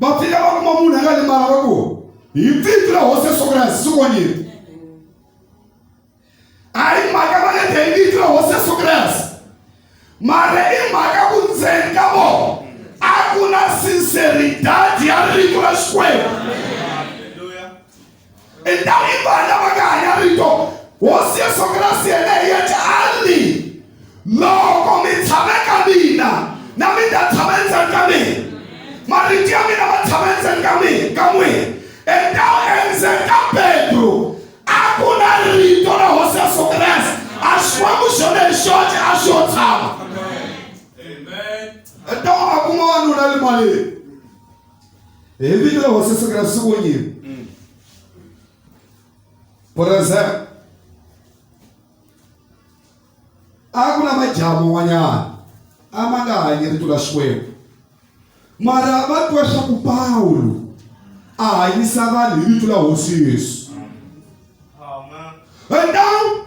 va fika va kuma munhu a nga limala va ku hi vito ra hosi ya soko ra hansi sukonyeni a hi mhaka va nga te hi vito ra hosi ya soko ra hansi mara i mhaka ku ndzeni ka vona a ku na sinceridade ya rito ra xikwembu i ndhawu yi vanhu lava nga hanya rito hosi yesu kreste yena hi yete a ri loko mi tshame ka mina na mi ta tshama endzeni ka mina marito ya mina ma tshama endzeni ka mina ka n'wina endhawu endzeni ka petro a ku na rito ra hosi yesu kreste a xikwembu xona hi xoxe a xo tshama endhawu a kuma wanuna le malini Hi vito la Hosi Yesu Kreste swi vonyile. Present. A ku na majaha man'wanyana a ma nga hanyi rito ra Xikwembu. Mara va twa swa ku Pawulo a hanyisa vanhu hi vito la Hosi Yesu. Amen. And now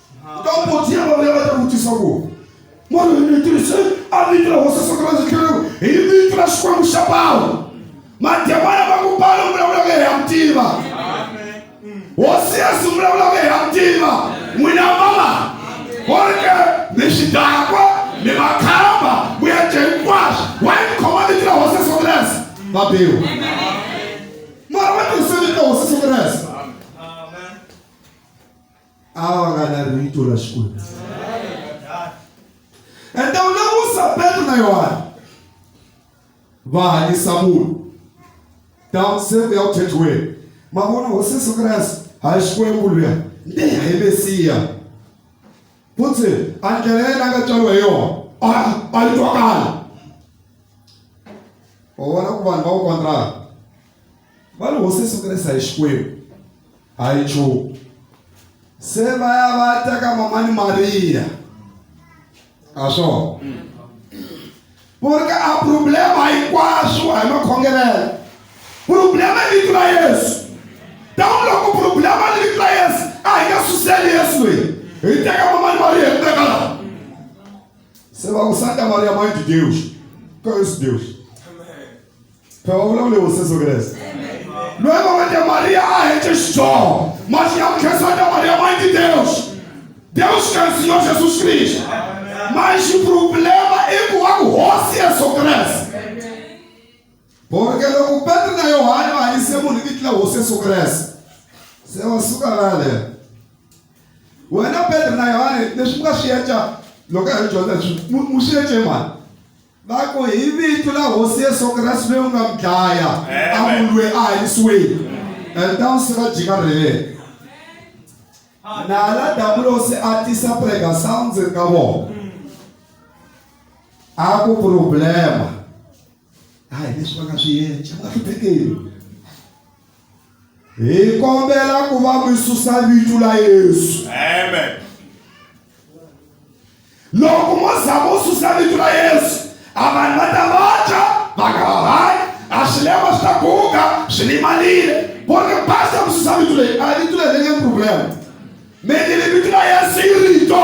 ka u potsi ya vona ya va ta vutisa ku moro ni tirhise a vito ra hosi sokrasi khelu hi vito ra xikwembu xa pawulo mademona va ku pawulo vulavulaka hi ya mutiva hosi yesu vulavulaka hi ya mutiva n'wina mama konke mi xidakwa mi makhamba ku ya dye hinkwaswo wa yi khoma vito ra hosi sokrasi va biwa mara va tirhise vito ra hosi sokrasi a va nga lavi rito ra xikwembu ende u lemusa petro na yohane va hanyisa munhu down se ku ya ku thethiweni ma vona hosi yesu kreste a hi xikwembu luya nde hi mesiya futhi a ndlela yena a nga tswariwa hi yona a yi twakala wa vona ku vanhu va ku kontraka va ri hosi sukerisa hi xikwembu a yi nchumu se va ya va ya teka mamani mariya a swona ku ri ka a problema hinkwaswo a hi makhongelelo problema i vito ra yesu tani loko problema ni vito ra yesu a hi nga suseli yesu loyi hi teka mamani mariya hi teka laha se va ku santa mariya mãe de deus qual é esse deus phela wa vulavula hi hoseso kreste loyi va wete mariya a hece xidyoho masi ya mukhesa wa ta mariya ma ndi deus deus ka nsiyo jesus kristu manxi problema i ku wa ku hosi yesu kreste porque loko petro na yohane va hanyise munhu hi vitila hosi yesu kreste se wa suka laleyo wena petro na yohane leswi mi nga swi yeca loko a hi dyondza leswi mu swi yece mani va ku hi vito la hosi yesu kreste loyi u nga mi dlaya a munhu loyi a hanyisiwile and ta vusiku a jika rheleke nala dabulosi a tisa prega sounds ka vona a ku problema a hi leswi va nga swi yenca va hluphekeli hi kombela ku va mi susa vito la yesu amen loko mo za vo susa vito ra yesu a vanhu va ta vabya va nga ha hanyi a swilema swi ta guga swi limalile vo ri basa ku susa vito leyi a vito leyi ri nge problem me ni vito ra yesu yi rito